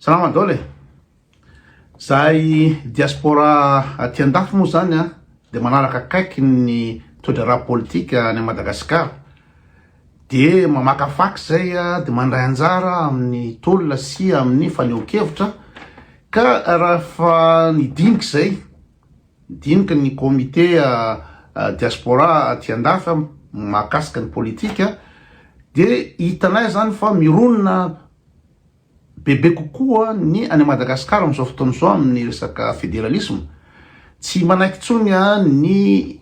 Salama dol e! Zahay diaspora aty andafy moa zany an de manaraka akaiky ny toedraharaha politika any Madagascar de mamakafaka zay de mandray anjara amin'ny tolona sy amin'ny fanehonkevitra ka rahefa ny dinika zay dinika ny comité diaspora aty andafy mahakasika ny politika de hitanay zany fa mironona Bebe kokoa ny any Madagascar amin'izao fotoana izao amin'ny resaka federalisme. Tsy manaiky intsony ny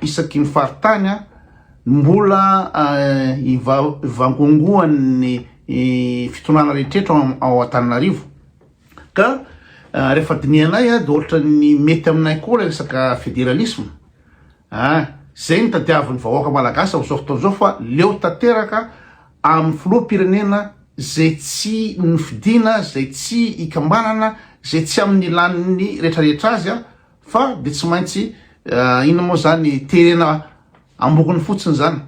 isaky ny faritany no mbola ivangongoan'ny fitondrana rehetrretra ao Antananarivo. Ka rehefa dinihanay dia ohatran'ny mety aminay koa ilay resaka federalisme. Izay no tadiavin'ny vahoaka malagasy amin'izao fotoana izao fa leo tanteraka amin'ny filoham-pirenena izay tsy nofidina, izay tsy ikambanana, izay tsy amin'ny laniny rehetrarehetra azy fa dia tsy maintsy inona moa izany terena ambokony fotsiny izany.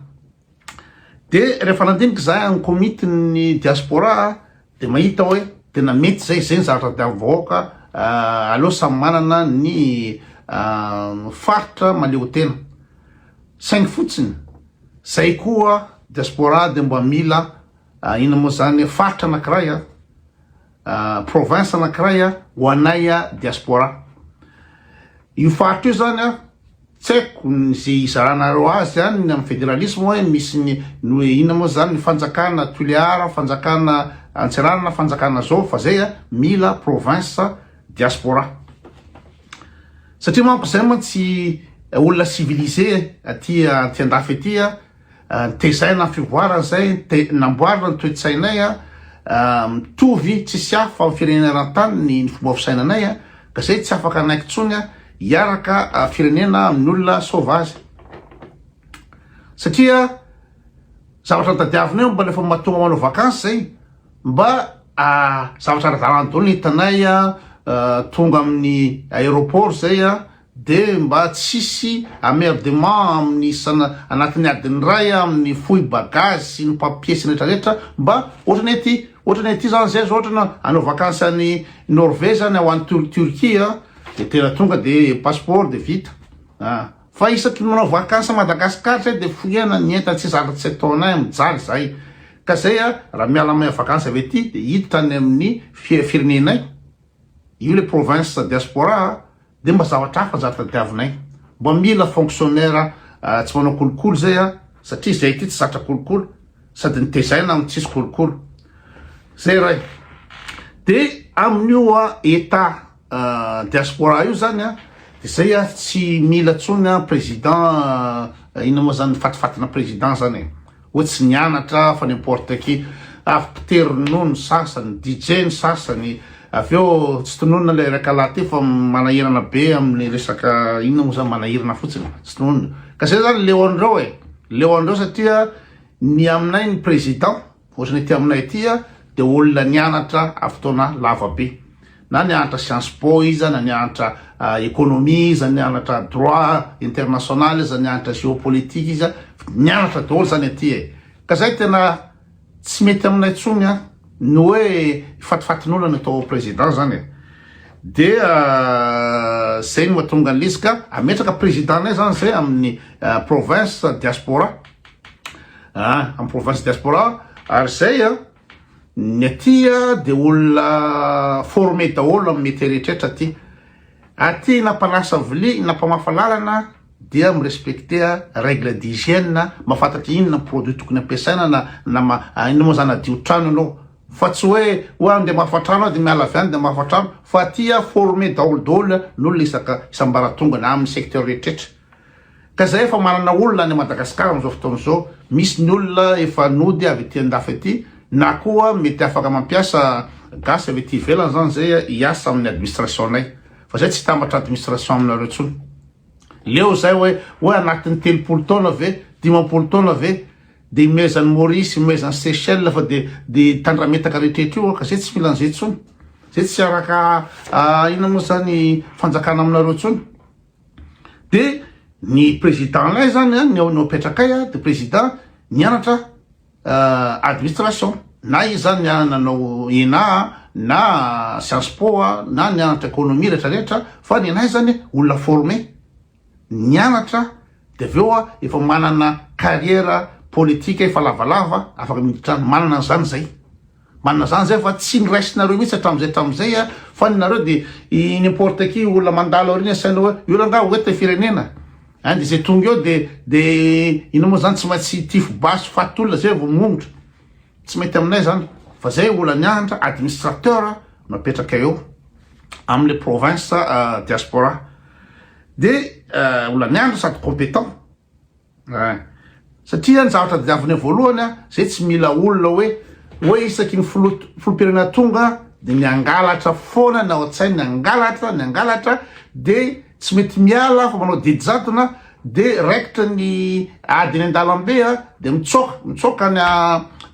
Dia rehefa nandinika izahay any Komitin'ny Diaspora Dia mahita hoe tena mety izay, izay ny zavatra tadiavin'ny vahoaka, aleo samy manana ny faritra maleotena. Saingy fotsiny, izay koa diaspora dia mba mila inona moa izany, faritra anankiray, province anankiray ho anay diaspora. Io faritra io izany. Tsy haiko ze izaranareo azy any ny am federalisme hoe misy ny noe inona moa zany ny fanjakana tulear fanjakana antsiranana fanjakana zao fa zay a mila province diaspora satria manko zay mantsy olona civilisé aty aty andafy aty a Tezaina ny fivoarana izay namboarina ny toe-tsainay mitovy tsisy hafa amin'ny firenena eran-tany ny fomba fisainanay ka izay tsy afaka hanaiky intsony hiaraka firenena amin'ny olona sauvage satria zavatra nitadiavinay mba rehefa mahatonga manao vacances izay mba zavatra ara-dalana daholo ny hitanay tonga amin'ny aéroport izay Dia mba tsisy amerdement amin'ny sana anatin'ny adiny iray an, amin'ny fohy bagage sy ny papier sy ny rehetra rehetra mba ohatrany ety ohatrany ety zany zay zao ohatrany hanao vakansy any Norvege zany ho any Tur Turquie an dia tena tonga dia passeport dia vita an, fa isaky ny manao vakansy any Madagascar zay dia fohena ny entana tsy zaka tsy ataonay mijaly zay ka zay an raha miala mahay vakansy avy ety dia hiditra any amin'ny firenenay. Io le province diaspora de mba zavatra hafa zany tadiavinay. Mba mila fonctionnaire tsy manao kolikoly zay a, satria zay ty tsy zatra kolikoly sady nitezaina am tsisy kolikoly. Zay iray. De amin'io etat diaspora io zany a de zay a tsy mila tsony president inona mo zany fatifatina president zany e. Hoy tsy nianatra fa n'importe qui. Avy mpitery ronono ny sasany, DJ ny sasany, avy eo tsy tononina ilay rakalahy teo fa manahirana be amin'ny resaka inona moa zany manahirana fotsiny tsy tononina ka zay zany leo an'ireo e, leo an'ireo satria ny aminay ny président ohatran'ny aty aminay aty dia olona nianatra avy fotoana lava be Na nianatra Sciences Po iza, na nianatra Economie iza, na nianatra Droit international iza, nianatra Géopolitique iza, nianatra daholo zany aty e! Ka zay tena tsy mety aminay tsony an! Ny hoe fatifatin'olona atao ho Président zany e! Dia zay no mahatonga an'izy ka ametraka Président-nay zany zay amin'ny Province Diaspora, an! Amin'ny Province Diaspora ary zay an! Ny aty dia olona former daholo amin'ny métier rehetrrehetra aty. Aty na mpanasa vilia na mpamafa lalana dia mi-respecter règle d'hygiène, mahafantatra inona ny produit tokony ampiasaina na inona moa zany hadio trano ianao fa tsy hoe oa andeha hamafa trano aho dia miala avy any dia hamafa trano fa aty former daholo daholo ny olona isaka isam-baratongany amin'ny secteur rehetrrehetra. Ka zahay efa manana olona any Madagascar amin'izao fotoana izao, misy ny olona efa nody avy ety andafy ety, na koa mety afaka mampiasa gasy avy ety ivelany zany zay hiasa amin'ny administration-nay, fa zay tsy hitambatra administration aminareo tsony. Leo zay oe, oe anatin'ny telopolo taona ve, dimampolo taona ve, de imehezan'i Maurice, imehezan'i Seychelles fa de de tandrametaka rehetrrehetra io ka zay tsy mila an'izay tsony. Zay tsy hiaraka inona moa zany fanjakana aminareo tsony. Dia ny président lay zany an, ny ao nopetrakay an, dia président nianatra administration, na izy zany nanao ena an, na science po an, na nianatra economie rehetra rehetra, fa ny anay zany olona former, nianatra dia avy eo an efa manana carrière politique efa lavalava afaka miditra any, manana an'izany zay. Marina zany zay fa tsy niraisinareo mihitsy hatramizay tamizay a, fa ny nareo de i n'importe qui olona mandalo aoriana asaina hoe io rangah ho eto firenena a, de zay tonga eo de de ino mo zany tsy maintsy hitifo basy faty olona zay vo mongotra, tsy mety aminay zany fa zay olany antra administrateur no apetraka eo amle province diaspora de olany andra sady competent. Eeh. Satria ny zavatra diaviny eo voalohany an, zay tsy mila olona hoe hoe isaky ny filoha filoham-pirenena tonga dia ny hangalatra foana ny ao an-tsainy, ny hangalatra, ny hangalatra dia tsy mety miala fa manao didy jadona dia raikitra ny ady eny an-dalambe an dia mitsoaka, mitsoaka any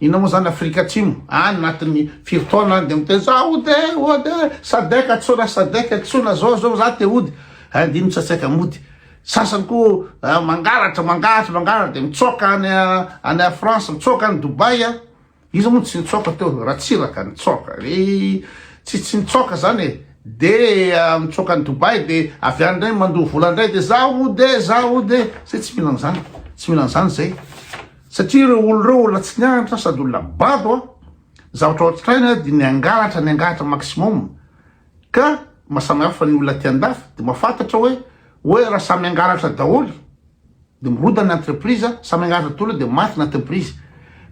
inona moa zany Afrika Atsimo any anatin'ny firy taona any dia miteny za hody e, hody e, Sadec antsoina, Sadec antsoina, zao zao za te hody, hay ndry mitsatsaika mody. Sasany koa mangalatra, mangalatra, mangalatra dia mitsoaka any any France, mitsoaka any Dubaï a. Iza moa no tsy nitsoaka teo? Ratsiraka nitsoaka. Re tsy tsy nitsoaka zany e. Dia mitsoaka any Dubaï dia avy any indray mandoa vola indray dia za hody e, za hody e. Zay tsy mila an'izany, tsy mila an'izany zay. Satria ireo olona ireo olona tsy nianatra sady olona bado a. Zavatra ohatraina dia ny hangalatra, ny hangalatra maximum. Ka ma samy hafa ny olona aty andafy de mafantatra oe oe ra samy angalatra daholy de mirodana ny entreprise a, samy angalatra daholy de maty ny entreprise.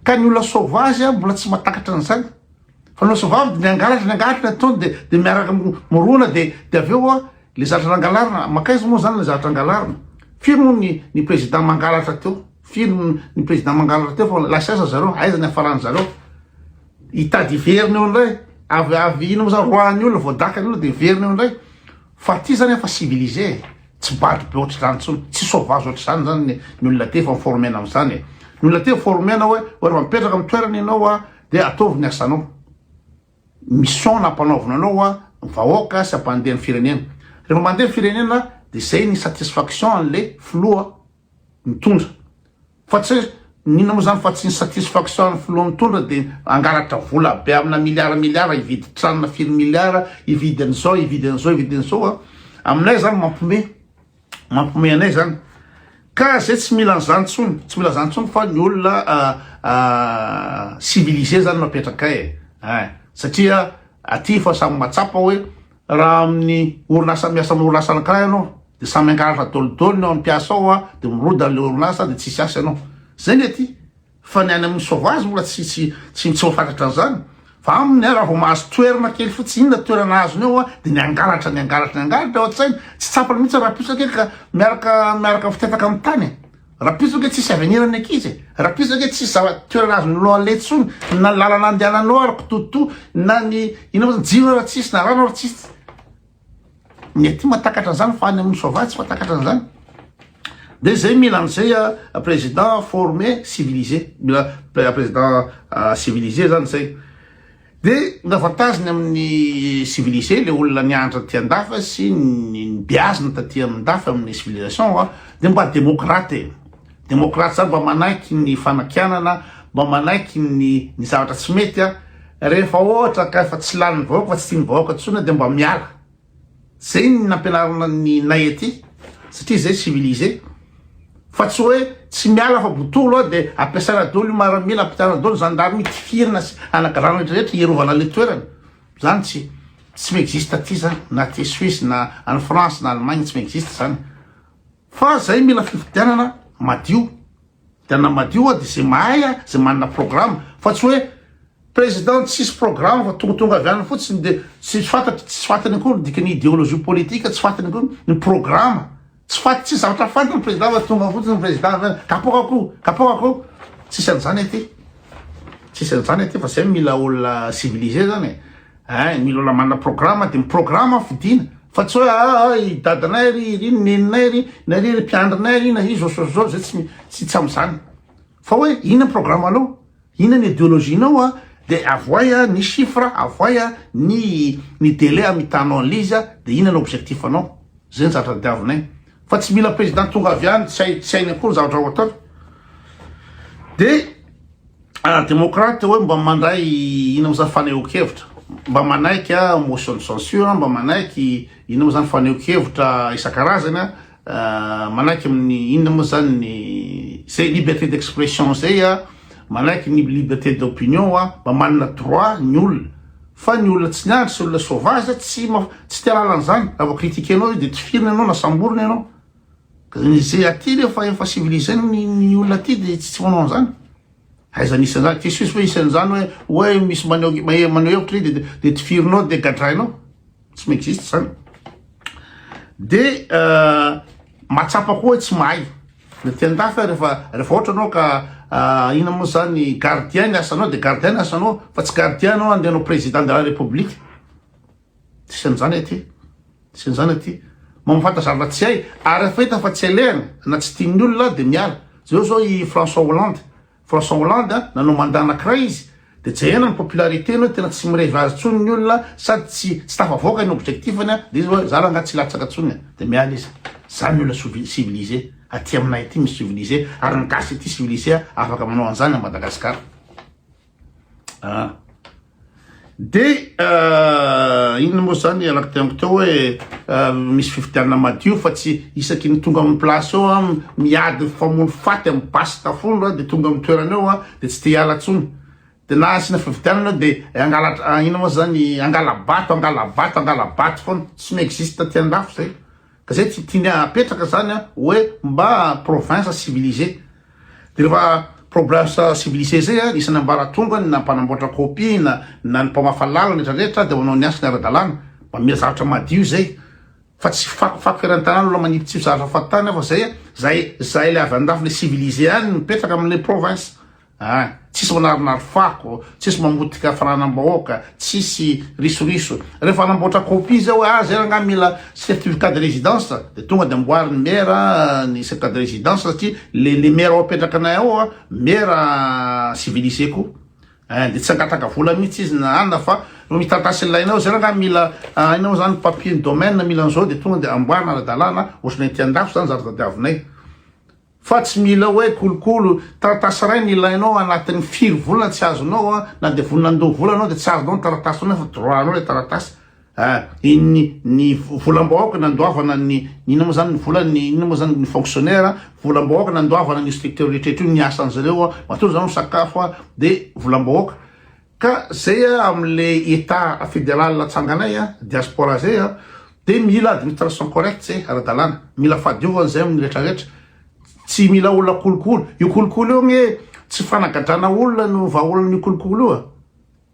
Ka ny olona sauvage a mbola tsy matakatra an'zany. Fa ny olona sauvave de ny angalatra ny angalatra ny ataony de de miaraka mirona de de avy eo a le zatra nangalarina makaiza moa zany le zatra angalarina. Firy moa ny ny président mangalatra teo? Firy ny président mangalatra teo fa lasa aiza zareo? Aiza ny hiafaran'zareo? Hitady hiverina eo indray. Avy avy ino moa zany roahan'ny olona voadaka ny olona dia hiverina eo indray. Fa aty zany efa civilisé e. Tsy bado be ohatr'izany intsony. Tsy sauvage ohatr'izany zany ny ny olona aty efa mi-former-na amin'izany e. Ny olona aty former-na hoe hoe raha mipetraka amin'ny toerana ianao a dia ataovy ny asanao. Mission nampanaovina anao a ny vahoaka sy hampandeha ny firenena. Rehefa mandeha ny firenena dia zay ny satisfaction an'le filoha mitondra fa tsy n'inona moa zany fa tsy ny satisfaction an'ny filoha mitondra dia hangalatra vola be amina milliard milliard hividy tranona firy milliard hividy an'izao hividy an'izao hividy an'izao a aminay zany mampome mampome anay zany ka zay tsy mila an'izany tsony tsy mila zany tsony fa ny olona civilisé zany mapetraka e satria aty fa samy matsapa hoe Raha amin'ny orinasa miasa amin'ny orinasa anankiray ianao dia samy hangalatra dolidoly ny ao amin'ny mpiasa ao a, dia mirodana ilay orinasa dia tsisy asa ianao. Izay ny aty. Fa ny any amin'ny sauvage mbola tsy tsy tsy tsy voafatratra an'izany. Fa aminy a raha vao mahazo toerana kely fotsiny inona toerana azony ao a dia ny hangalatra ny hangalatra ny hangalatra ao an-tsainy. Tsy tsapany mihitsy raha-pihosa kely ka miaraka miaraka fitetaka amin'ny tany e. Rapiso ange tsisy avenir ny ankizy e, rapiso ange tsisy zava toerana azonao aleha tsony na lalana andehananao ary kitoto na ny ino moa zany jiro ary tsisy na rano ary tsisy ny aty matakatra an'zany fa any amin'ny soavaly tsy matakatra an'zany de zay mila an'zay président formé civilisé mila président civilisé zany zay Dia navantaziny amin'ny civilisé ilay olona nianatra taty an-dafy sy nibeazina taty an-dafy amin'ny civilisation a, dia mba demokraty e! Demokraty izany mba manaiky ny fanakianana, mba manaiky ny ny zavatra tsy mety a! Rehefa ohatra ka efa tsy lanin'ny vahoaka fa tsy tian'ny vahoaka intsony dia mba miala, Zay ny nampianarina ny nay aty satria zay civilisé fa tsy hoe tsy miala fa botolo a de ampiasana dolo io maramila ampiasana dolo zandary io tifirina sy anagarana rehetra rehetra hiarovana le toerana zany tsy tsy mi-existe aty zany na aty Suisse na any France na Allemagne tsy mi-existe zany Fa zay mila fifidianana madio. Fifidianana madio a de zay mahay a, zay manana programme. Fa tsy hoe président tsisy programme fa tongotonga avy any fotsiny de tsy fantatry tsy fantany akory ny dikan'ny idéologie politique, tsy fantany akory ny programme. Tsy fat tsisy zavatra fantany ny président fa tonga fotsiny ny président avy any kapoka akoho, kapoka akoho. Tsisy an'zany aty. Tsisy an'zany aty fa zay mila olona civilisé zany e. Hein, mila olona manana programa dia miprograma ny fidiana fa tsy hoe ah, ah i dadanay ry ry ny neninay ry na ry ry mpiandrinay ry na i zao zao zao zay tsy tsy tsy amin'izany fa hoe inona ny programanao inona ny idéologie-nao a dia avoay a ny chiffre avoay a ny ny délai amitanao an'ilay izy a dia inona ny objectif anao zay ny zatra ny diavinay Fa tsy mila président tonga avy any tsy hay tsy hainy akory zavatra ho atao de ah démocrate hoe mba mandray ina moa zany fanehoan-kevitra mba manaiky ah motion de censure mba manaiky ina moa zany fanehoan-kevitra isan-karazany ah manaiky amin'ny inona moa zany ny zay liberté d'expression zay ah manaiky ny liberté d'opinion ah mba manana droit ny olona Fa ny olona tsy niandry sy olona sauvage tsy tsy te ahalala an'izany, raha vao critiquer-nao io dia tifirina ianao na samborina ianao. Izay aty rehefa efa civilisé ny ny olona aty dia tsy tsy manao an'izany. Aiza misy an'izany? Jesosy ve isan'izany hoe hoe misy maneho maneho hevitra izy dia dia tifirinao dia gadrainao? tsy mi-existe zany de mahatsapa koa hoe tsy mahay le teny dafa rehefa rehefa ohatra anao ka ina moa zany gardien ny asanao de gardien ny asanao fa tsy gardien anao andeha anao président de la république tsisy an'izany aty tsisy an'izany aty mamafanta zavatra tsy hay ary efa hita fa tsy alehany na tsy tian'ny olona de miala zao zao i François Hollande François Hollande a, nanao mandat anakiray izy de jerena ny popularité-ny hoe tena tsy mirevy azy tsony ny olona sady tsy tsy tafavoaka ny objectif-ny a de izy hoe za rangaha tsy latsaka tsony a de miala izy. Za ny olona sovi civilisé aty aminay aty misy civilisé ary ny gasy aty civilisé a afaka manao anzany a Madagascar a. Dia inona moa izany ianareo teniko teo hoe misy fifidianana madio fa tsy isaky ny tonga amin'ny place eo an, miady famono faty amin'ny basy tafondro an, dia tonga amin'ny toerana eo an, dia tsy te hiala intsony. Dia na asiana fifidianana eo dia angala inona moa izany, angala-bato, angala-bato, angala-bato foana. Tsy mi-existe aty an-dafy izay. Zay tsy tiany apetraka zany a oe mba province civilisee de refa province civilisee zay a isany ambaratonga ny na mpanamboatra copie na na ny mpamafa lalana retra retra de manao ny asany ara dalana mba mila zavatra madio zay fa tsy fako fako eran tanana olona manipotsipy zavatra fahatany afa zay a zay zay le avy andafy le civilisee any mipetraka amle province An! Tsisy manarinary fako, tsisy mamotika fananam-bahoaka, tsisy risoriso. Rehefa hanamboatra copie izay hoe ah, izay rangahy mila certificat de résidence dia tonga dia amboarin'ny maire ny certificat de résidence satria le le maire ao apetraka anay ao an, maire civilisé koa. An! Dia tsy hangataka vola mihitsy izy na anona fa vao mitantà sy ilaina ao, izay rangahy mila an, hainao izany papier ny domaine mila an'izao dia tonga dia amboarina ara-dalàna, ohatr'ilay ety an-dafy izany zary tadiavinay. Fa tsy mila hoe kolokolo taratasy iray no ilainao anatin'ny firy volana tsy azonao an, na dia vonona andoha vola anao dia tsy azonao ny taratasy tsoinao fa droit anao ilay taratasy an, iny ny volam-bahoaka nandoavana ny inona moa izany ny vola ny inona moa izany ny fonctionnaire an, volam-bahoaka nandoavana an'io structure rehetra io ny asan'izy ireo an, matoa izy ireo misakafo an dia volam-bahoaka. Ka zay a amle etat federal atsanganay a diaspora zay a de mila administration correct zay aradalana mila fadiovana zay aminy retra retra tsy mila olona kolokolo io kolokolo io gne tsy fanagadrana olona no vahaolana io kolokolo io a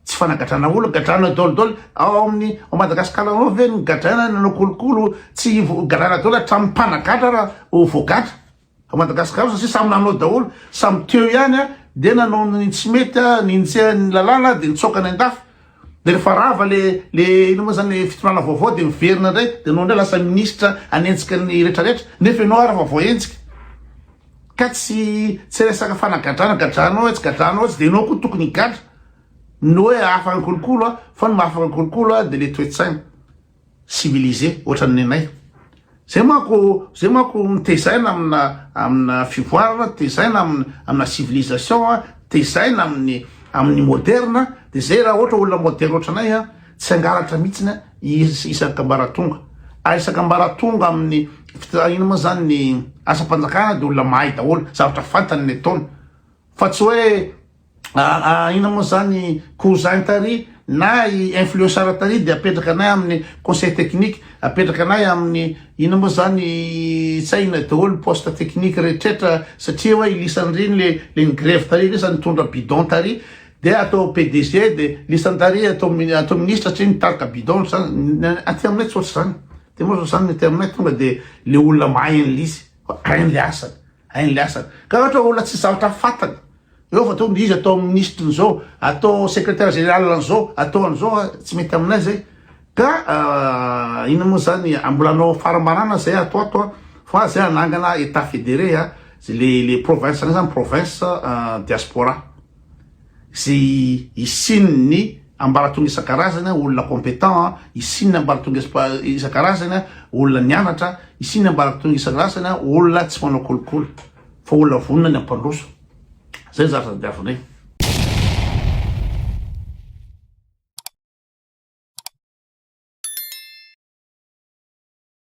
tsy fanagadrana olona gadrana dolidoly ao aminy ao madagasikara ao ve ny gadrana nanao kolokolo tsy gadrana dolidoly hatramin'ny mpanagadra ra ho voagadra Fa Madagascar io satria samy nanao daholo samy teo ihany a dia nanao ny tsy mety a ninjehan'ny lalàna dia nitsoaka any andafy dia rehefa rava le le inona moa zany le fitondrana vaovao dia miverina indray dia anao indray lasa ministra hanenjika ny retraretra nefa ianao ary efa voahenjika ka tsy tsy resaka fanagadrana gadranao etsy gadranao etsy dia ianao koa tokony higadra ny hoe afaka ny kolokolo a fa ny mahafaka ny kolokolo a dia le toe-tsaina civilisé ohatran'ny nenay. Zay manko zay manko tezaina amina amina fivoarana, tezaina amina amina civilisation a, tezaina amin'ny amin'ny moderne, de zay raha ohatra olona moderne ohatranay a tsy hangalatra mitsiny a is- isak'ambaratonga. Ary isak'ambaratonga amin'ny fitr- ino ma zany ny asam-panjakana de olona mahay daholo, zavatra fantany ny ataony fa tsy hoe Aa inona moa zany cousin tary na i influenceur tary de apetraka anay aminy conseil technique apetraka anay aminy inona moa zany tsy hay inona daholo poste technique rehetrretra satria oe i lisany ry le le nigrevy tary lisa nitondra bidon tary de atao PDG de lisany tary atao atao ministra satria nitarika bidon zany ny aty aminay tsy ohatr'izany de moa zany ny aty aminay tonga de le olona mahay an'lisy fa hainy le asany Hay ny asany. Ka ohatra hoe olona tsisy zavatra fantany eo fa atao izy atao ministre nizao, atao secretaire general anzao, atao anzao a, tsy mety aminay zay. Ka inona moa zany a, mbola anao farambarana zay ato ato a, fa zay anangana etat federe a, le le province anay zany province diaspora. izay hisian'ny ambaratonga isan-karazany, olona compétent, hisian'ny ambaratonga isan-karazany, olona nianatra, hisian'ny ambaratonga isan-karazany, olona tsy manao kolikoly, fa olona vonona ny hampandroso. Izay ny zavatra tadiavinay.